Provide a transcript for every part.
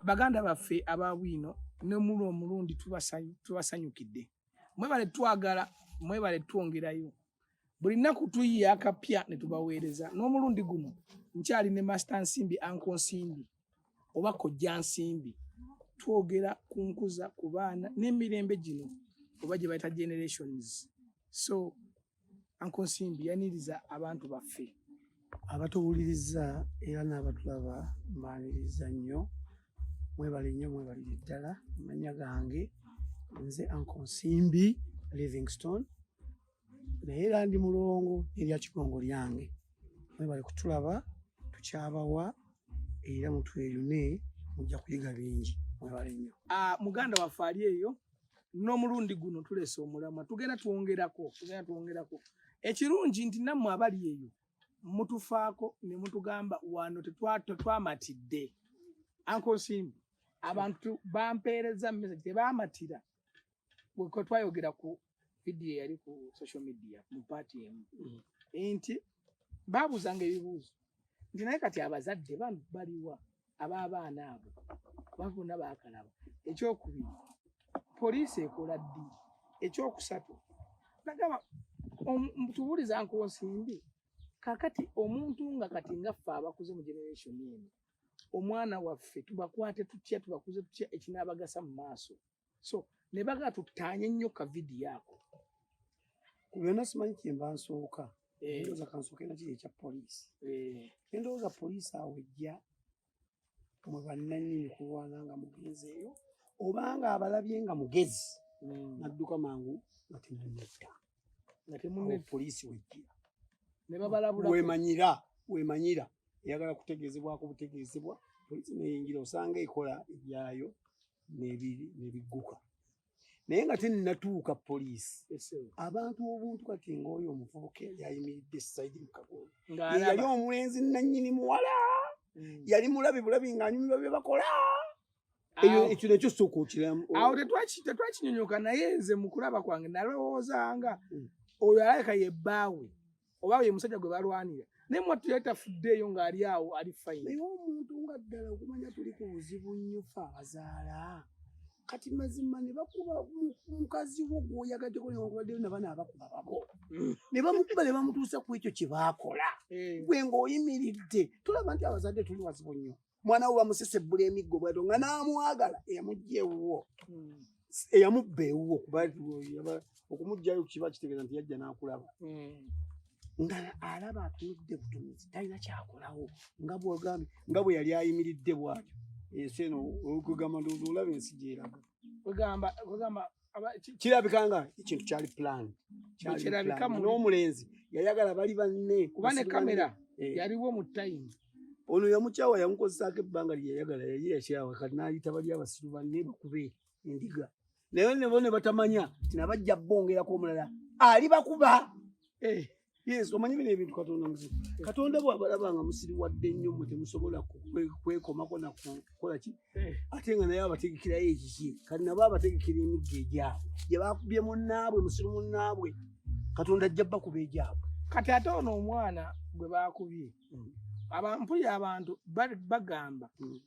baganda baffe aba bwino ne mulu omulundi tubasanyukidde mwebale twagala mwebale twongerayo buli nnaku tuyiye akapya ne tubaweereza n'omulundi guno nkyali ne masita nsimbi anko nsimbi oba kojja nsimbi twogera ku nkuza ku baana n'emirembe gino oba gye bayita generations so anko nsimbi yaniriza abantu baffe abatuwuliriza era n'abatulaba mbaniriza nnyo mwebale nnyo mwebalire ddala amanya gange nze anko nsimbi livingstone naye era ndi mulongo erya kigongo lyange mwebale kutulaba tukyabawa era mutweyune mujja kuyiga bingi mwebale nnyo ah, muganda waffe ali eyo n'omulundi guno tuleese omulamwa tugenda twongerako tugenda twongerako ekirungi nti nammwe abali eyo mutufaako ne mutugamba wano tetwamatidde ankosimbi abantu bampeereza mumesagi tebaamatira wekwe twayogera ku vidiyo eyali ku social media mu paati emu mm. nti babuuzanga ebibuuzo nti naye kati abazadde bano baliwa ab'abaana abo bavuna bakalaba ekyokubiri poliisi ekola ddi ekyokusatu nagamba tubuliza nkunsimbi kakati omuntu nga kati nga ffe abakuze mu generation eno omwana waffe tubakwate tutya tubakuze tutya ekinaabagasa mu maaso so ne bagala tutaanye nnyo ka vidiyo ako ku byonna simanyi kyemba nsooka eh. ndowooza kansooke na kiri ekya poliisi eh. endowooza poliisi awo ejja mwe bannanyini kulwana nga mugenzeeyo obanga abalabye nga mugezi hmm. nadduka mangu nga temunetta nga temunne poliisi wejjira ne babalabula wemanyira wemanyira eyagala kutegeezebwako butegeezebwa poliisi neyingira osanga ekola ebyayo nebigguka naye nga tenatuuka poliisi abantu obuntu kati ngaoyo omuvubuka yayimiridde saidi mukagolo yeyali omulenzi nanyini muwala mm. yali mulabi bulabi ngaanyumirwa byebakola ekyo nakyo sooka okiramu awo tetwakinyonyoka naye nze mukulaba kwange nalowoozanga mm. oyo alabika yebbaawe oba ye musajja gwe balwanira naye mwattu yali tafuddeeyo ng'ali awo ali fayini naye omuntu nga ddala okumanya tuli ku buzibu nnyo fe abazaala kati mazima ne bakuba mukazi wo gwoyagaddeko newankubaddeyo nabana abakuba babo mm. ne bamukuba ne bamutuusa ku ekyo kye baakola eh. gwe ng'oyimiridde tulaba nti abazadde tuli wazibu nnyo mwana wo bamusesebbula emiggo bwato nga n'amwagala eyamujja ewuwo hmm. eyamubba ewuwo kuba okumugjayo kiba kitegeeza nti yajja n'akulaba hmm. nga alaba atunudde butunuzi talina kyakolawo nga bwogambye nga bwe yali ayimiridde bwatyo ensi eno okugamba ndoozi olaba ensi gyeraga kwegamba kirabika nga ekintu kyali plan n'omulenzi yayagala bali banne kuba ne kamera eh. yaliwo mu time ono yamukyawa yamukozesaako ebbanga lyeyayagala yali yakyawa kati nayita bali abasiru banne bakube endiga naye nebo ne batamanya tinabajja bongerako omulala ali bakuba eh. Yes, omanyi bino ebintu Katonda muzibu. Katonda bw'abalaba nga musiriwadde nnyo mwe temusobola kwekomako na kukola ki eh. ate nga naye abategekerayo ekiki kati nabo abategekera emigga egyabwe gye bakubye munnaabwe musiru munnaabwe Katonda ajja bakuba egyabwe. Kati ate ono omwana gwe bakubye mm. abampulira abantu bagamba mm.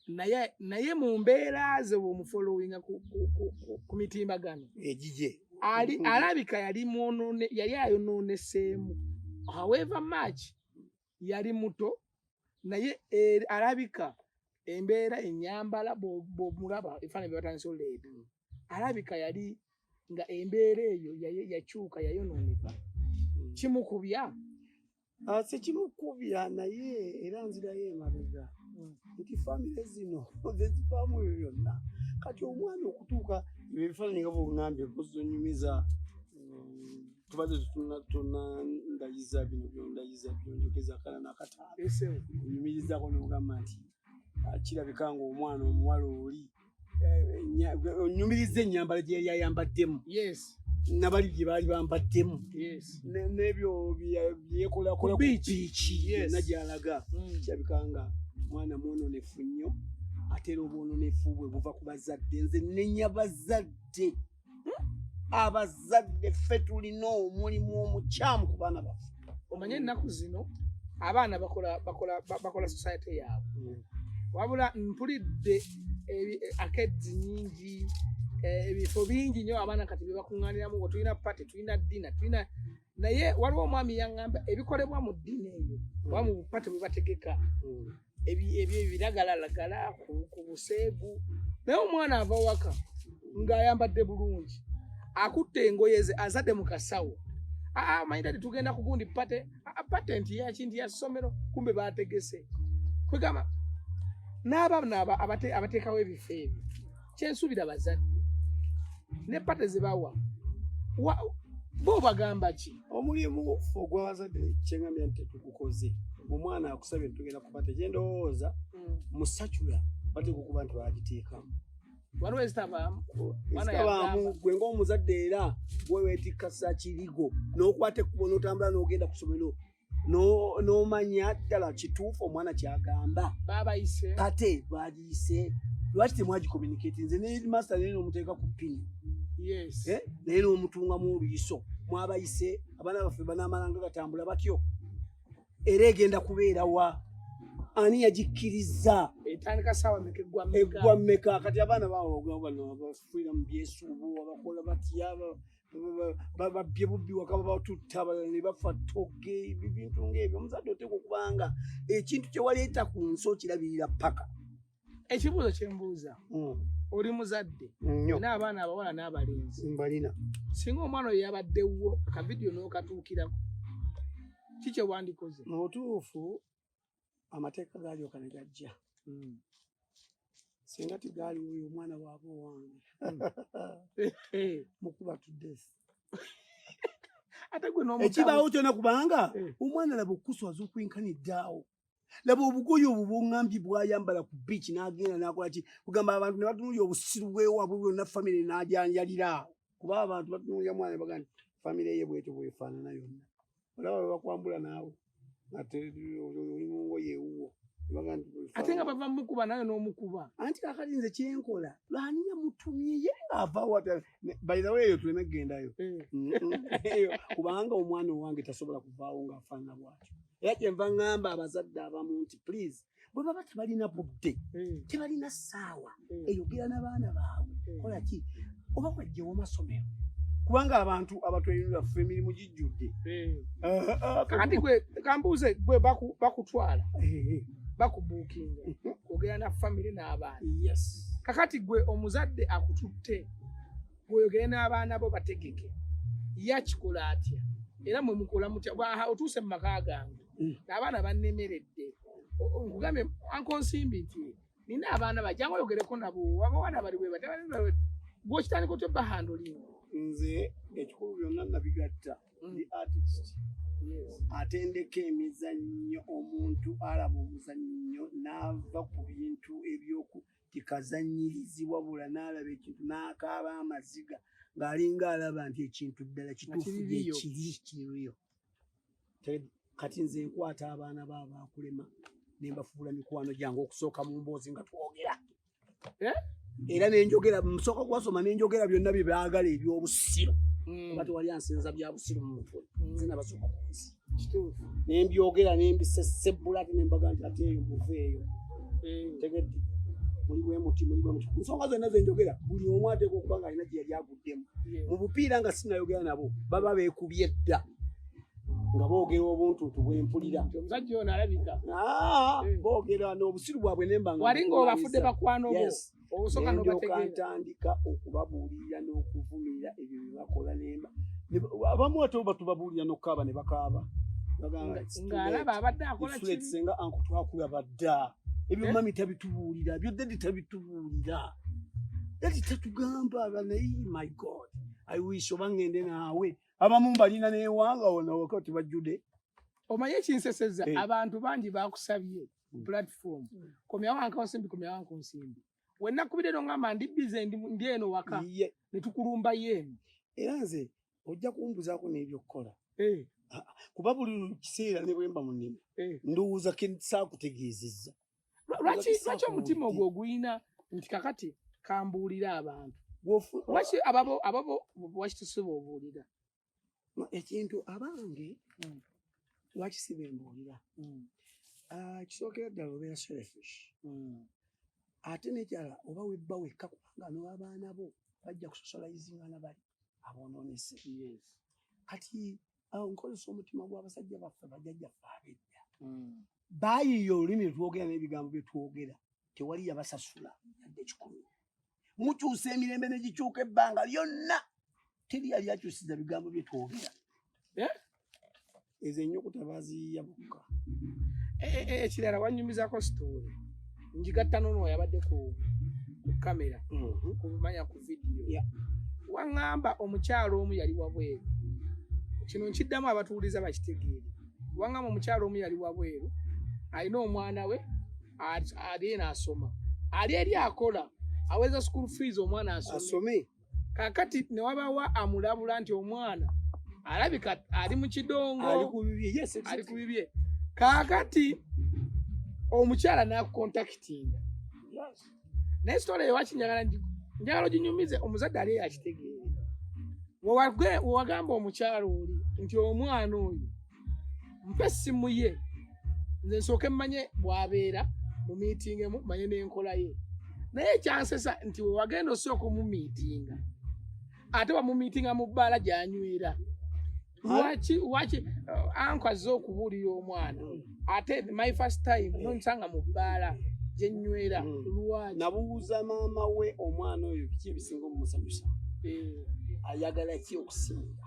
naye naye mu mbeera ze bwomufolowinga ku mitimbagano egigye ali alabika yali mwonone yali ayonooneseemu however much yali muto naye er, alabika embeera enyambala bwomulaba efaana byebatandisa oleeta alabika yali nga embeera eyo yakyuka yayonooneka kimukubya Ah, sikimukubya naye era nzirayo emabega mm. nti famire zino zezivaamu ebyo byonna kati omwana okutuuka ebyo ebifaananyi nga bwongambye bozonyumiza mm, tubadde tunatunandayiza bino byondayiza byonjogeza kala nakataano onyumirizako nogamba nti ah, kirabika ngaomwana omuwala oli eh, onyumiriza ennyambala gye yali ayambaddemu nabali bye baali bambaddemu n'ebyo byekolakola ku biiki yonna gyalaga mm. kirabikanga mwana mwononefu nnyo ate era obwononefu bwe buva ku bazadde nze nenya bazadde abazadde ffe tulina omulimu omukyamu ku baana baffe omanye ennaku zino abaana bakola bakola bakola society yaabwe mm. wabula mpulidde akedzi nyingi eh, ebifo bingi nyo abaana kati byebakuŋŋaniramu nga tulina pate tulina dina tulina naye waliwo omwami yaŋŋamba ebikolebwa mu ddiini eyo mm. oba mu bupate bwe bategeka mm. ebyo ebiragalalagala ku buseegu naye omwana ava waka ng'ayambadde bulungi akutte engoye ze azadde mu kasawo ah, ah, manyi tati tugenda kugundi pate ah, patenti yakinti ya ssomero kumbe baategese kwegamba n'abaana abateekawo ebifo ebyo kyensuubira bazadde ne pate zebawa bo bagamba ki omulimu ogwabazadde kyeŋambya nti tetugukoze omwana akusabye tugenda kuba tekyendowooza hmm. musacula bateeka okuba nti bagiteekamu waliwo ezitabaamu gwe ngaomuzadde era gwewetikasa kirigo nokwata ekkubo notambula nogenda ku somero n'omanya no ddala kituufu omwana kyagamba kate bwagiyise lwaki temwagikomunicati nze nemaster naye nomuteeka ku pini eh? naye nomutungamu oluyiso mwabayise abaana baffe banamalanga gatambula batyo era egenda kubeera wa ani yagikkiriza eggwa mmeka kati abaana bawogabanafulira mu byesuubo abakola batya babbye bubbi waka babatutta abalala ne bafa toge ebintu ngaebyo omuzadde oteeka okuba nga ekintu kyewaleeta ku nsi okirabirira paka ekibuuzo kyembuuza hmm. oli muzadde naabaana abawala n'abalenzi mbalina singa omwana oyo yabaddewo akavidiyo n'okatuukirako kikyewandikoze mubutuufu amateeka gaalyoka ne gajja hmm. singa tigaali oyo omwana waaba owange hmm. mukuba tudes ekibaawo kyona kubanga eh. omwana laba okuswaza okwenkaniddaawo laba obugoye obwo bwongambye bwayambala ku biiki n'agenda n'akola ki kugamba abantu ne batunuulya obusiru bwewabwe bwonna famire n'ajanjalira awo kuba abantu batunuulya mwana baga nti famire ye bwetyo bwefaanana yonna olaba webakwambula naawe ate oli mungoye ewuwo ate nga bava mukuba naye n'omukuba anti kakati nze kyenkola lwani yamutumye ye ng'avawa bayizawo eyo tuleme kugendayo eh. eyo kubanga omwana owange tasobola kuvaawo ng'afaanana bwatyo era kyenva ŋŋamba abazadde abamu nti please bwe baba tebalina budde hmm. tebalina ssaawa hmm. eyogera n'abaana baabwe hmm. kola ki oba wajjewo amasomero kubanga abantu abatweyunira ffe emirimu gijjudde kakati gwe kambuuze gwe bakutwala eh, eh. bakubuukinga mhm. kwogera na famire n'abaana kakati gwe omuzadde akututte gweogere n'abaana bo bategeke yakikola atya era mwe mukola mutya otuuse mu maka gange mm. abaana bannemeredde nkugambye anko nsimbi nti nina abaana bajanga oyogereko nabo abawana bali bwe batabawe gwokitandika otya bahandulin nze ekikulu byonna nabigatta mm. the artist atendeka emizannyo omuntu alaba omuzannyo n'ava ku bintu ebyoku kikazanyirizi wabula n'alaba ekintu n'akaaba amaziga ng'alinga alaba nti ekintu ddala kituufu ekiri kiriyo kati nze nkwata abaana ba baakulema ne mbafuula mikwano gyange okusooka mu mboozi nga twogera eh? era nenjogera musooka kubasoma nenjogera byonna bye baagala ebyobusiru mm. oba tewali ansinza bya busiru mu mutwe mm. nze nabasooka ku nsi nembyogera nembisesebbula ate nembaga nti ate eyo muva eyo mm. tegedde muli bwemuti muli bwemuti nsonga zonna zenjogera buli omu ateeka okuba nga alina gyeyali agu bw'obuvuddemu mu bupiira nga sinayogera nabo baba beekubye dda nga boogera obuntuntu bwempulira omusajja ono alabika ah, eh. boogera n'obusiru bwabwe nembanwali ngaobafudde bakwano boosokantandika okubabuulirira n'okuvumirira ebyo bye bakola nemba abamu ate oba tubabuulira n'okukaaba ne bakaaba ng'alaba abadde akola kibi senga anku twakulaba dda ebyo eh? mami tabitubuulira byo dadi tabitubuulira dadi tatugamba banayi my god i wish oba ngende naawe abamu mbalina newanga wona waka ti bajjude omanyi ekinseseza eh. abantu bangi bakusabye hmm. platform hmm. komyawankansimbi komyawankunsimbi wenakubirero ngamba ndi bize ndi eno waka netukulumba yeeno era nze ojja kumbuzaako n'ebyokukola eh. ah, ah, kuba buli kiseera ne bwemba mu nnimi eh. ndowooza ke saakutegeezezza lwaki omutima ogwo oguyina nti kakati kambuulira abantu lwaki ababo ababo lwaki tusiba obuulira ekintu abange hmm. lwaki siba embuulira hmm. ah, kisookera ddala obeera selfish hmm. ate nekyala oba webba wekka kubanga nowabaana bo bajja kusosolayizinga na bali abonoonese kati awo nkozesa omutima gw'abasajja baffe bajajja ffe abedda hmm. baayiiya olulimi lwetwogera n'ebigambo bye twogera tewali yabasasula yadde kikulu mukyusa emirembe ne gikyuka ebbanga lyonna teri yali akyusiza bigambo bye twogera eh? ezo enyukuta baziyiya bokka eh, eh, eh, ekirala wanyumizako sitoole njigatta nono yabadde ku kamera mhm. kumanya ku vidiyo waŋŋamba omukyalo omu yali wabweru kino nkiddamu abatuwuliza bakitegeere waŋŋamba omukyalo omu yali wabweru alina omwana we ali eno asoma ali eri akola aweza school fees omwana asome kakati newabawa amulabula nti omwana alabika ali mu kidongo ali ku bibye kakati omukyala nakukontakitinga naye sitola eyowakinyagala njagala oginyumize omuzadde ali eyakitegeere wewagamba omukyala oli nti omwana oyo mpa essimu ye nze nsooke mmanye bwabeera mu miitingi emu manye n'enkola ye naye ekyansesa nti wewagenda osooka omumiitinga ate wamumiitinga mu bbaala gyanywera lwaki lwaki uh, anko azze okubuulira omwana ate my first time nonsanga mu bbaala gyenywera hmm. lwaki nabuuza maama we omwana oyo biki ebisinga omumusanyusa eh. ayagala ki okusinga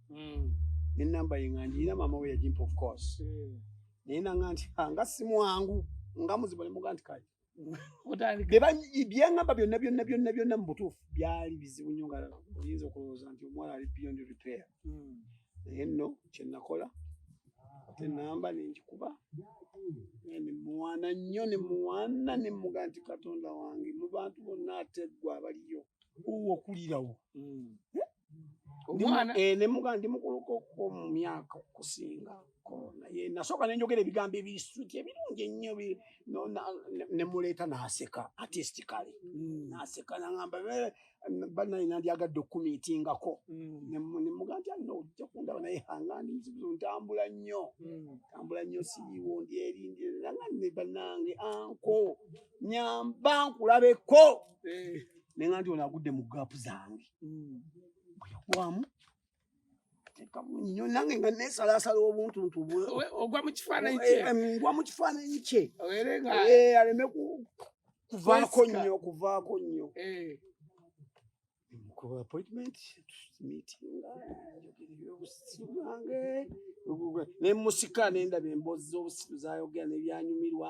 mm. ne namba ye nga njirina maama we yagimpa of course mm. naye nanga nti ah, nga simwangu nga muzibu nemuga nti kati byebaŋamba byonna byonna byonna byonna mu butuufu byali bizibu nyo nga oyinza okulowooza nti omuwala ali beyond repair mm. naye nno kyenakola ate namba nengikuba nemuwana nnyo nemuwana nemuga nti katonda wange mu bantu bonna ateggwa abaliyo owokulirawo mm. eh? omwana eh, ne muga ndi mukuluko ko mu myaka okusinga ko naye nasooka ne njogera ebigambo ebisuti ebirungi ennyo ne muleeta n'aseka artistically mm. n'aseka nangamba banaye nandyagadde okukumiitingako mm. ne muga nti alina ojja kundaba naye hanga ndi muzibuzo ntambula nnyo mm. ntambula nnyo siyiwo ndi eri ndi nanga ne banange anko nyamba nkulabeko eh. ne nga nti ono agudde mu gaapu zange hmm. bweyagwamu nyo nange nga nesalasala obuntuntu ogwa mukifaananyi kye eh, eh, ngwa mukifaananyi kye eh, aleme kuvaako nnyo kuvaako nnyo ku appointment tumitinga ebyobusibwange nemusika nendaba emboozi z'obusibu zayogera nebyanyumirwa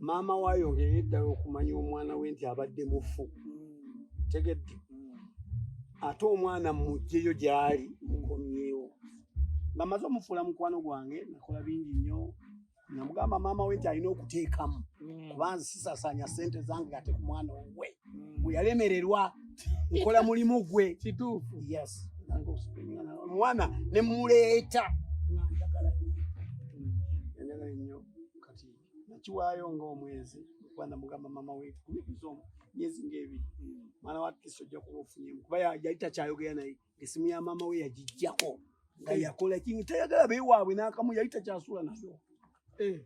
maama we ayongere eddala okumanya omwana we nti abadde mufu tegedde ate omwana mujjeyo gyali mukomyewo nga maze omufuula mukwano gwange nakola bingi nnyo namugamba maama we nti alina okuteekamu mm. kuba nze sisasaanya sente zange ate ku mwana owe mm. gwe yalemererwa nkola mulimu gwe kituufu yes omwana ne muleeta nakiwaayo nga omwezi kuba namugamba mama wetu kubibizo myezi ngaebiri hmm. mwana watkisi ojja kuba ofunyemu kuba yali takyayogera naye ngesimu ya mama we yagijjako nga eh. yakola kingi tayagala bewaabwe nakamu yali takyasula nayo eh.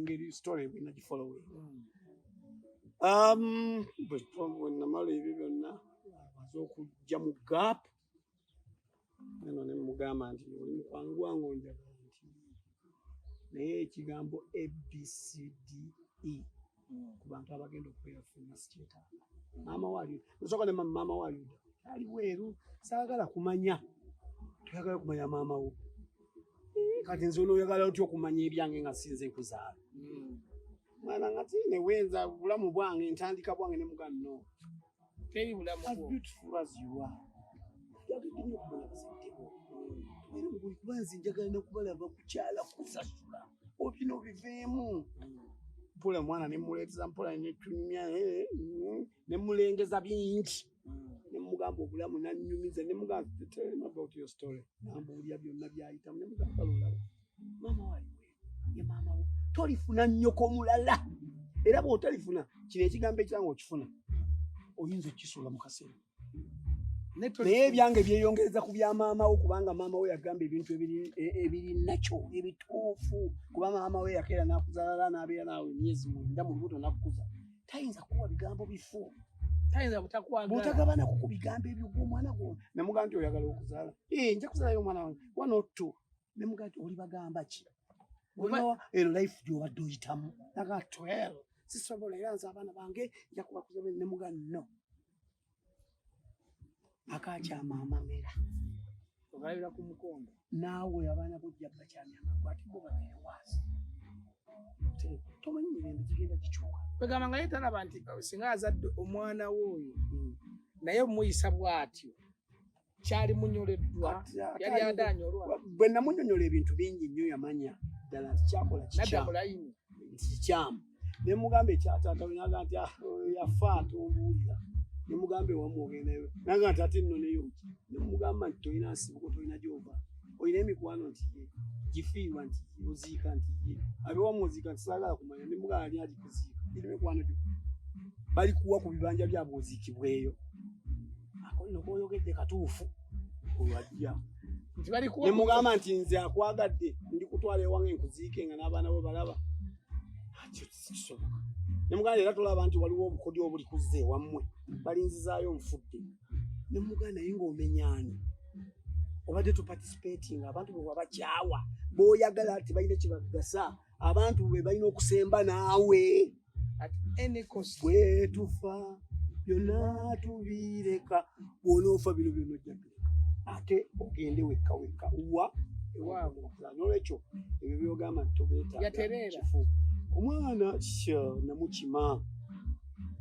ngeri story bwenagifollowe hmm. um, bwenamala ebyo byonna aze okujja mu gap eno ne mugamba nti oli mukwano gwange onjagala nti naye ekigambo abcde hmm. ku bantu abagenda okubeera funa sikyetaaga maama wali osoka ne maama wali ali weeru saagala kumanya toyagala kumanya maama wo eh, kati nze onoyagala otya okumanya ebyange nga sinze nkuzaala hmm. mwana ngati newenza bulamu bwange ntandika bwange ne mugano teri bulamu bwo. As beautiful as you are. Yagidde nyo kumanya bazadde bo. Era muguli kuba nze njagala nokubalaba kukyala kusasula. Obino obiveemu. Mpola mwana ne muleeteza mpola ne tunyumya eh, mm, ne mulengeza bingi. Mm. Ne mugamba obulamu nanyumiza ne mugamba tell him about your story. Nambuulira byonna byayitamu ne mugamba lulawo. Mama wayiwe. ye maama wo tolifuna nnyoko mulala era bwotalifuna kino ekigambo ekiranga okifuna oyinza okukisuula mu kaseera naye ebyange byeyongereza ku bya maama wo kubanga maama wo yagamba ebintu ebiri nakyo ebituufu kuba maama we yakeera nakuzalala nabeera naawe emyezi mwenda mu lubuto nakukuza tayinza kuwa bigambo bifu butagabana kuku bigambo ebyo gwomwana gwo namugaa nti oyagala okuzala eh, nja kuzalayo omwana wange one or two ne mugati oli bagamba ki olinawa eno life gyobadde oyitamu naga twel sisobola era nze abaana bange njakuba kuzabe ne muga no akakyama amamera ogalabira ku mukongo naawe abaana bojja bakyamya amagu ate bo babere waasi tomanyi mirembe gigenda gikyuka kwegamba nga ye talaba nti singa azadde omwana we oyo hmm. naye omuyisa bwatyo kyali munyoleddwa yali adaanya olwa bwe namunyonyola ebintu bingi nnyo yamanya ddala nti kyakola kikyamu nti kikyamu ne mugamba ekyataata we naga nti ah, yafa atombuulira ne mugamba ewamu ogendayo naga nti ate nno neyo ki ne mugamba nti tolina nsibuko tolina gyova olina emikwano nti ye gifiirwa nti oziika nti ye abewamu oziika nti saagala kumanya ne mugamba ali agikuziika iri mikwano gyo balikuwa ku bibanja byabwe oziikibweyo akonno koyogedde katuufu olwajja ne mugamba nti nze akwagadde ndi kutwala ewange nkuziike nga n'abaana bo balaba kisoboka ne muganda era tolaba nti waliwo obukodyo obuli kuzza ewammwe balinzizaayo nfudde ne muganda naye ng'omenyaani obadde tuparticipating abantu bwe wabakyawa booyagala tebalina kye bagasa abantu be balina okusemba naawe at any cost bwetufa byonna tubireka bwonoofa bino byona ojjatuleka ate ogende wekka wekka wa ewaabwe nolwekyo ebyo byogamba nti tobeetakifu omwana namukima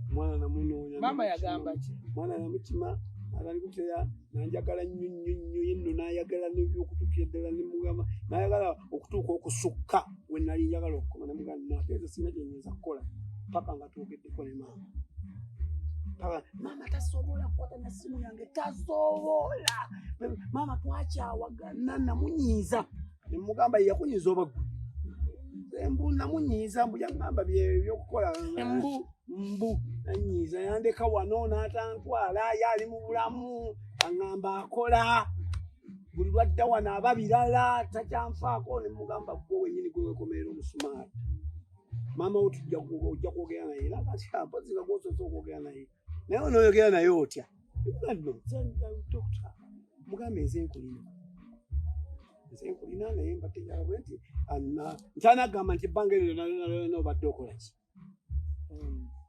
omwana namunoonya mwana namukima atalikuteya nanjagala nnyo nnyo nnyo yenno nayagala nebyokutukira ddala nemugamba nayagala okutuuka okusukka we nali njagala okukoma nemugamba nateeza sina gyenyinza kukola paka nga twogeddeko ne maama paka maama tasobola kukwata na simu yange tasobola maama twakyawagana namunyiiza nemugamba yeyakunyiiza obaggu mbu namunyiiza mbu yagamba byeyo byokukola mbu anyiiza yandeka wano n'atantwala ye ali mu bulamu aŋŋamba akola buli lwadda wano aba birala takyanfaako ne mugamba gwe wenyini gwe wekomerera omusumaali maama wo tujja ojja kwogera naye era kati mpozi nga gwosoose okwogera naye naye onoyogera naye otya mugambe nze nkulina nze nkulina naye mbategeera bwe nti ntanagamba nti ebbanga eryo nalonalona obadde okola ki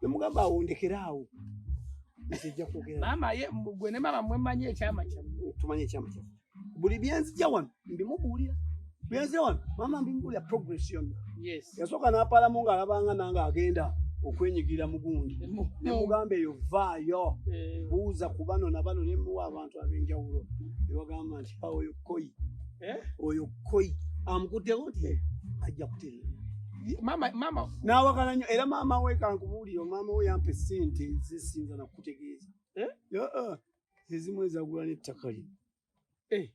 nemugamba awo ndekera awo maama ye gwe ne maama mwe manyi ekyama kyammwe tumanyi ekyama kyammwe buli byenzija wano mbimubuulira byenzija wano maama mbimubuulira progress yonna yasooka n'apalamu ng'alabanga nange agenda okwenyigira mugundi nemugamba eyo vaayo eh. buuza ku bano na bano nemuwa abantu ab'enjawulo nebagamba nti awoyo koi eh? oyo koi amukutewo nti eh. ajja kuterera mama mama nawakana nyo era mama we kankubuulire mama we yampa esente zisinza nakukutegeeza eh? uh-uh. ezimu ezagula n'ettaka lye eh,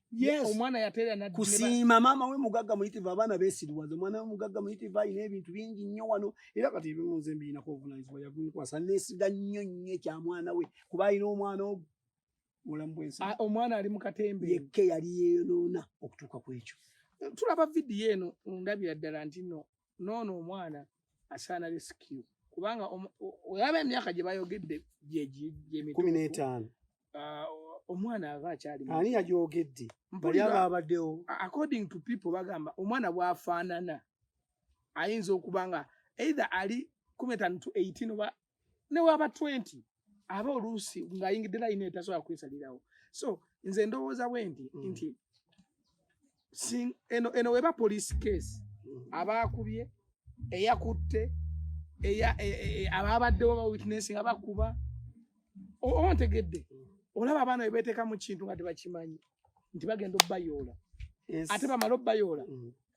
kusiima maama we mugagga muyitivu abaana besiriwaza omwana we mugagga muyitivu alina ebintu bingi nnyo wano era kati ebimuze mbirinako obuvunanyizibwa yagunkwasa nesiga nnyo nnyo ekya mwana we kuba alina omwana ogwo mulamu bwensi ah, omwana ali mukatembe yekka yali yeyonoona okutuuka ku ekyo tulaba vidiyo eno ndabira ddala nti no noono omwana asaana resikiu kubanga olaba emyaka gye bayogedde gyegyemitumi n'etaano ah, omwana ava akyali ani yagyogedde bali aba abaddewo according to people bagamba omwana bwafaanana ayinza okuba nga either ali kumi etaano to eighteen oba ne waba 20 aba oluusi ng'ayingidde layina etasobola kwesalirawo so nze ndowooza bwe nti mm. nti eno eno weba police case mm. abaakubye eyakutte e, e, e, abaabaddewo ba witness nga bakuba oba ntegedde mm. olaba abaana bebeteeka mu kintu nga tebakimanyi nti bagenda obayoola ate bamala obayoola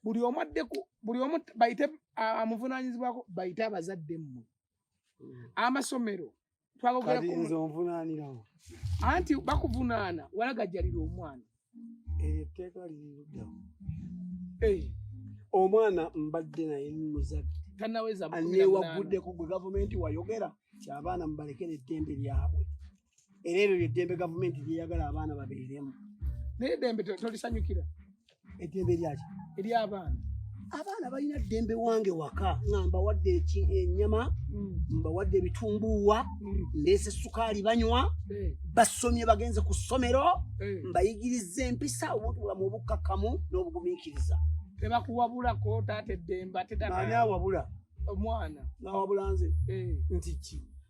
buli omu addeku buli omu bayite amuvunanyizibwako bayite abazadde mmwe mm. amasomero twagogeranze onvunaanirawo anti bakuvunaana walagajjalira omwana eryo etteeka liriruddawo eh. omwana mbadde naye muzadde tanawezanewaguddeko gwe gavumenti wayogera kyabaana mubalekera eddembe lyabwe era eryo lyeddembe gavumenti lyeyagala abaana babeeremu naye eddembe tolisanyukira eddembe lyaki ery'abaana abaana balina ddembe wange waka nga mbawadde enyama mm. mbawadde ebitumbuuwa mm. ndeese sukaali banywa eh. basomye bagenze ku ssomero eh. mbayigiriza empisa obuntu bulamu obukkakkamu n'obugumiikiriza tebakuwabulako taata eddembe ate ani awabula omwana awabula nze eh. nti ki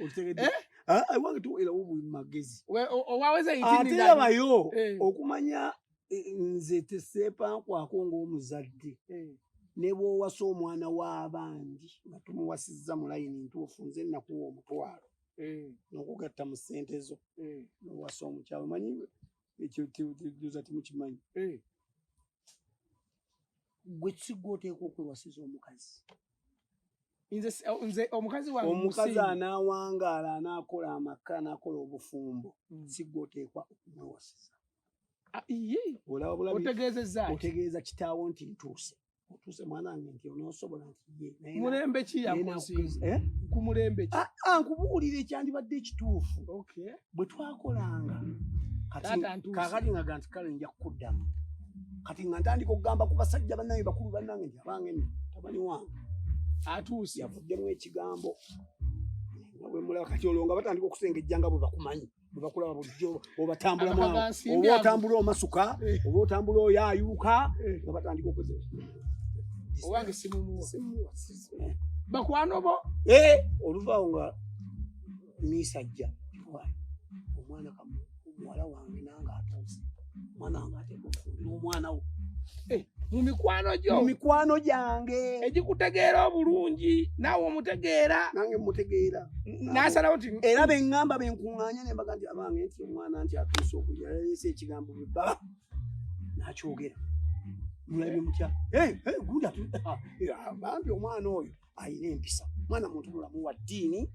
okitegedde eh? ah, ah, wange tuwera wo buli magezi owaweza ate yabayo eh. okumanya eh, nze teseepankwako ng'omuzadde ne bw'owasa omwana w'abandi nga tumuwasizza mu layini ntuufu nze nnakuwa omutwalo n'okugatta mu ssente zo n'owasa omukyalo manyi ekyo kyoza timukimanyi gwe kisigwa oteekwa okwewasiza omukazi nze omukazi wange omukazi anaawangaala anaakola amaka anaakola obufumbo hmm. sigwe oteekwa okumwewasiza ah, otegeezeza otegeeza kitaawo nti ntuuse otuuse mwana wange nti onoosobola nti yemulembe ki yakuzinkumulembe eh? ah, ah, nkubuulira ekyandibadde ekituufu bwe twakolanga kakati ngaga nti kale nja kukuddamu kati nga ntandika okugamba ku basajja bannange bakulu bannange nti abange no tabani wange atuuse yavuddemu ekigambo nga bwe mulaba kati olwo nga batandika okusengejja nga bwe bakumanyi bwe bakulaba bulijjo obatambulamu oba otambula omasuka eh. oba otambula oyayuuka eh. nga batandika okuze owange simumu bakwana obo eh, oluvaawo nga miisajja kiwaye omwana kamu omuwala wange nange atuuse omwana wange ateeka okufumbira omwana wo eh, mu mikwano gyo mu mikwano gyange egikutegeera obulungi naawe omutegeera nange mutegeera nasalawo nti era beŋŋamba benkuŋŋaanya ne mbaga nti abange nti omwana nti atuuse okulya yaleese ekigambo bwe baba nakyogera mulabe mutya eh, eh, gunda ah, bambi omwana oyo alina empisa mwana muntu mulamu wa ddiini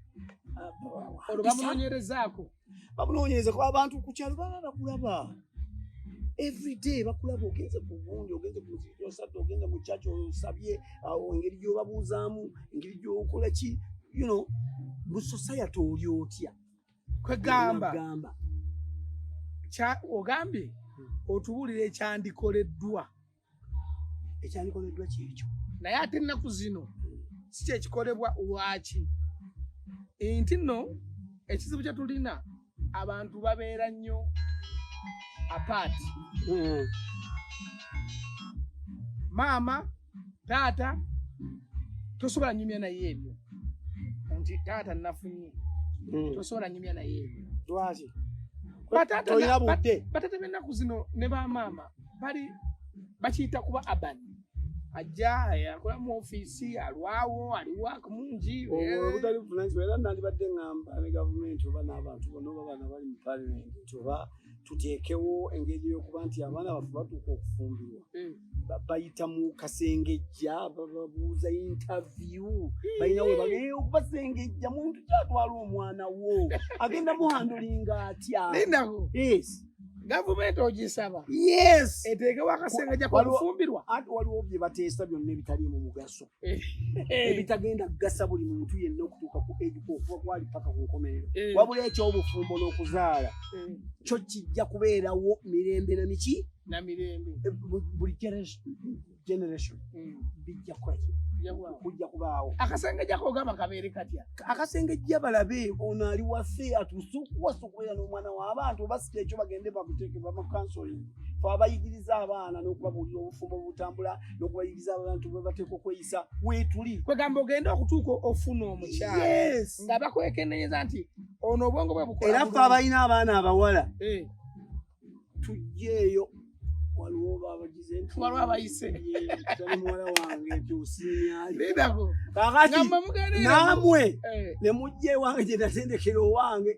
uh, olwo bamunoonyerezaako bamunoonyereza kuba abantu ku kyalo baba bakulaba everyday bakulaba ogenze ku gundi ogenze ku muziki osadde ogenze mu kyaki osabye awo uh, engeri gyobabuuzaamu engeri gyokola ki you know mu society oli otya kwegamba ogambye hmm. otubuulira ekyandikoleddwa ekyandikoleddwa kyekyo naye ate ennaku zino si kyekikolebwa lwaki nti nno ekizibu kye tulina abantu babeera nnyo apaati hmm. maama taata tosobola nyumya naye ebyo nti taata nafunye hmm. tosobola nyumya naye ebyo lwaki batata bennaku zino ne bamaama bali bakiyita kuba urban ajja akola mu ofiisi alwawo aliwo akamungi obutali buvunanyizibwa oh, eh. era nandibadde ngamba ne gavumenti oba n'abantu bona oba baana bali mu palimenti nti oba tuteekewo engeri yokuba nti abaana baffe batuuka okufumbirwa hmm. bayita mu kasengejja bababuuza intavyu hmm. balina webagee okubasengejja muntu kyatwala omwana wo agenda muhandulinga atya gavumenti ogisaba eteekewo akasengejja kolufumbirwa ati waliwo bye bateesa byonna ebitali mu mugaso eh. ebitagenda kugasa buli muntu yenna okutuuka ku ejuka okuba kwali paka ku nkomerero eh. wabula ekyobufumbo n'okuzaala eh. kyo kijja kubeerawo mirembe na miki na mirembe buli generation mm. bijja kwaki kujja kubaawo akasenge jakogamba kabeere katya akasenge jja balabe ono ali wase atusukuwasa okubeera n'omwana w'abantu oba sika ekyo bagende bakuteeke bamakansoling fe abayigiriza abaana n'okubabuulira obufumbo obutambula n'okubayigiriza abantu bwe bateeka okweyisa weetuli kwegamba ogenda okutuuka ofuna omukyala nga bakwekendenyeza nti ono obwongo bwe bukola era fe abalina abaana abawala eh. tujjeeyo waliwo babagize nti waliwo abayise tali muwala wange nti osiimyalidako kakati namwe eh. ne mujja ewange gye natendekera owange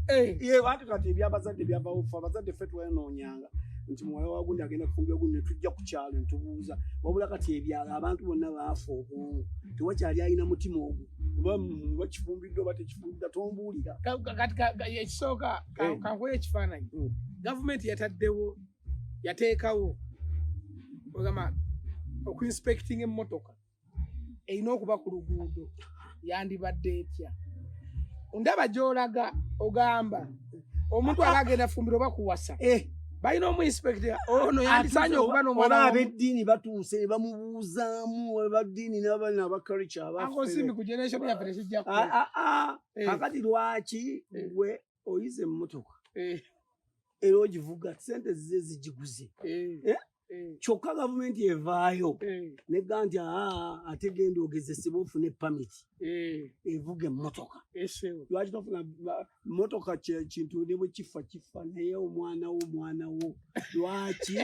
eh. ye bantu kati ebyabazadde byabawufu abazadde ffe twenoonyanga nti muwala wagundi agenda kufumbira gundi netujja ku kyalo netubuuza wabula kati ebyalo abantu bonna baafa obwongo tewakyali alina mutima ogwo oba bakifumbiddwa oba tekifumbiddwa tombuulira ekisooka kankuwa ekifaananyi mm. gavumenti yataddewo yateekawo ogamba okuinspecting emmotoka erina okuba ku luguudo yandibadde etya ndaba gyolaga ogamba omuntu aba agenda fumbiro oba kuwasa eh. balina omuinspekta ono yandisanye okuba nomuoba abeddiini batuuse bamubuuzaamu abaddiini nabalina abakalica abasimbi ku generation yaffe tekijjaku ah, ah, ah. eh. kakati lwaki eh. gwe oyize emmotoka eh. era ogivuga sente zize zigiguze kyokka gavumenti evaayo nega nti aa ate genda ogezesebwa ofune pamiti evuga emmotoka lwaki tofuna motoka kintu ne bwe kifa kifa naye omwana wo omwana wo lwaki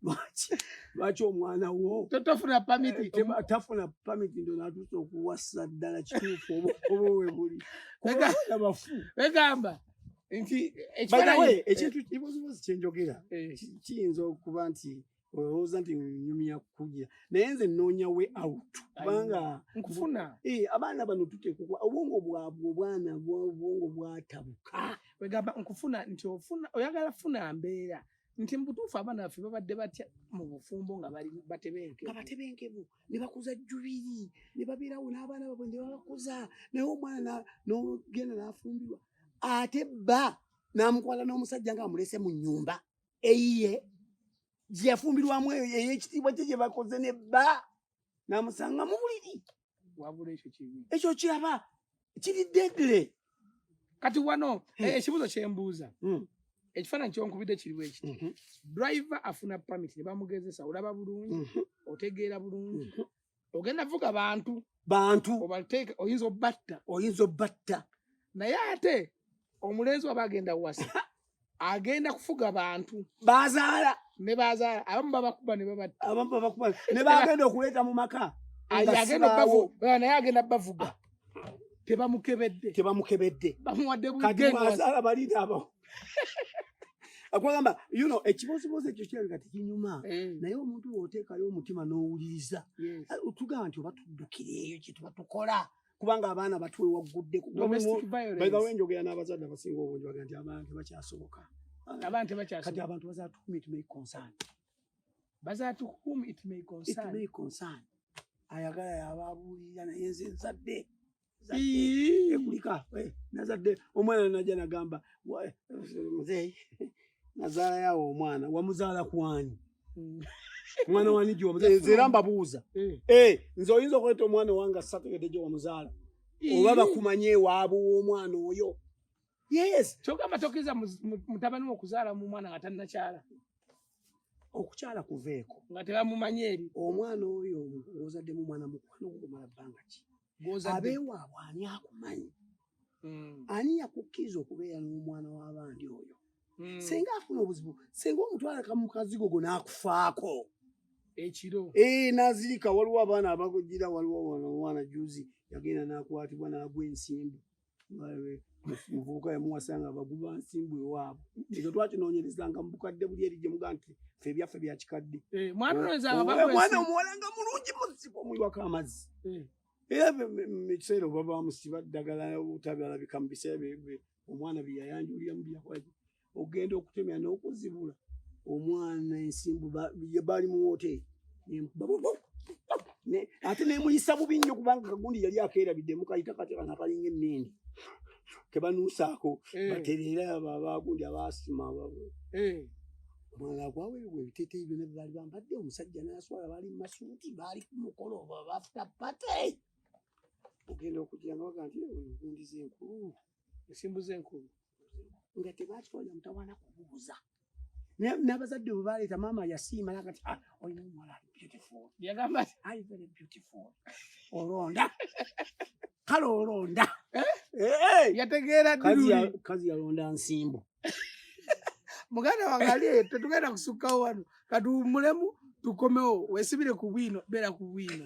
lwaki lwaki omwana wo tofuna pamiti eh, tafuna pamiti ndo natusa okuwasa ddala kituufu obukobo we buli bafu begamba nti ekintu kibozibozi kyenjogera eh. kiyinza okuba nti olowooza nti nyumya kukugira naye nze noonya we out kubanga nkufuna eh, abaana bano tutekukwa obwongo bwabwe obwana obwongo bwatabuka wegamba nkufuna nti ofuna oyagala funa mbeera nti mubutuufu abaana baffe babadde batya mu bufumbo nga bali batebenke nga batebenkemu ne bakuza jubiri ne babeerawo n'abaana babwe ne babakuza naye omwana nogenda n'afumbirwa ate bba n'amukwala n'omusajja nga amulese mu nyumba eyiye gyeyafumbirwamu eyo eyekitiibwa kye gye bakoze ne bba namusanga mu buliri ekyo kiraba kiri dedle kati wano hmm. eh, ekibuzo kyembuuza hmm. ekifaananyi kyonkubidde kiriwo ekiti mhm. driver afuna pamit ne bamugezesa olaba bulungi mhm. otegeera bulungi mhm. ogenda vuga bantu bantu obateeka oyinza obatta oyinza obatta naye ate omulenzi waba agenda wasa agenda kufuga bantu bazaala ne bazaala abamu babakuba ne babatta abamu babakuba ne bagenda okuleeta mu maka agenda bavuga naye agenda bavuga ah. tebamukebedde tebamukebedde bamuwadde bugengazaala balida abo akwagamba you know ekibozibozi ekyo kirabika tekinyuma mm. naye omuntu woteekayo omutima n'owuliriza ah, tugamba nti oba tuddukira eyo kyetuba tukola kubanga abaana batwe waggudde kubawe enjogera n'abazadde abasinga obungi baga nti abantu bakyasoboka abantu bakyakati abantu bazatuhum it may concern bazatuhum it may concern it may concern ayagala yababuulira naye nze nzadde ekulika eh, nazadde omwana najja nagamba muzeeyi nazaala yawo omwana wamuzaala kwani mm. mwana wani gyonzera mbabuuza eh. Eh, nze oyinza okweta omwana owange asategede gye wamuzaala oba bakumanye ewaabwe w'omwana oyo yes kyogamba tokiriza mutabani wokuzaala mu mwana nga tannakyala okukyala kuveeko nga tebamumanyi eri omwana oyo ozaddemu mwana mukwano gukumala bbanga ki abeewaabwe ani akumanyi hmm. ani yakukkiriza okubeera n'omwana w'abandi oyo hmm. singa afuna obuzibu singa omutwalaka mu kazigo go n'akufaako ekiro ee eh, n'azirika waliwo abaana abagira waliwo omwana juzi yagenda n'akwatibwa n'agwa ensimbu muvubuka yamuwasanga abaguba nsimbu ewaabwe ekyo twakinoonyerezanga mu bukadde buli eri gye muga nti fe ebyaffe bya kikadde eh, mwana omuwala nga mulungi muzibu omuyiwako amazzi eh. era mukiseera oba bamusiba ddagala obutabiralabika mu biseera omwana byeyayanjulira mu byakwaki ogenda okutemya n'okuzibula omwana ensimbu baali mu woteeri ate nemuyisa bubi nnyo kubanga kagundi yali akeerabidde mukayita kateka nakalinga emmindi kebanuusaako eh. batereera abo abagundi abaasima ababwe eh. omwana agwaweebwa ebiteteeyi byona byebaali bambadde omusajja n'aswala baali mu masuuti baali ku mukolo oba bafuta pate ogenda okugira nga baga nti ogundiza enkulu ensimbu z'enkulu nga tebakiwalira mutawana kubuuza n'abazadde bwe baleeta maama yasiima naga ti ah, olina omuwala ali beautiful yagamba ti ali very beautiful olonda kale olonda eh? Eh? yategeera kazi yalonda nsimbu muganda wange ali eyo tetugenda kusukkawo wano katuwummulemu tukomewo wesibire ku bwino beera ku bwino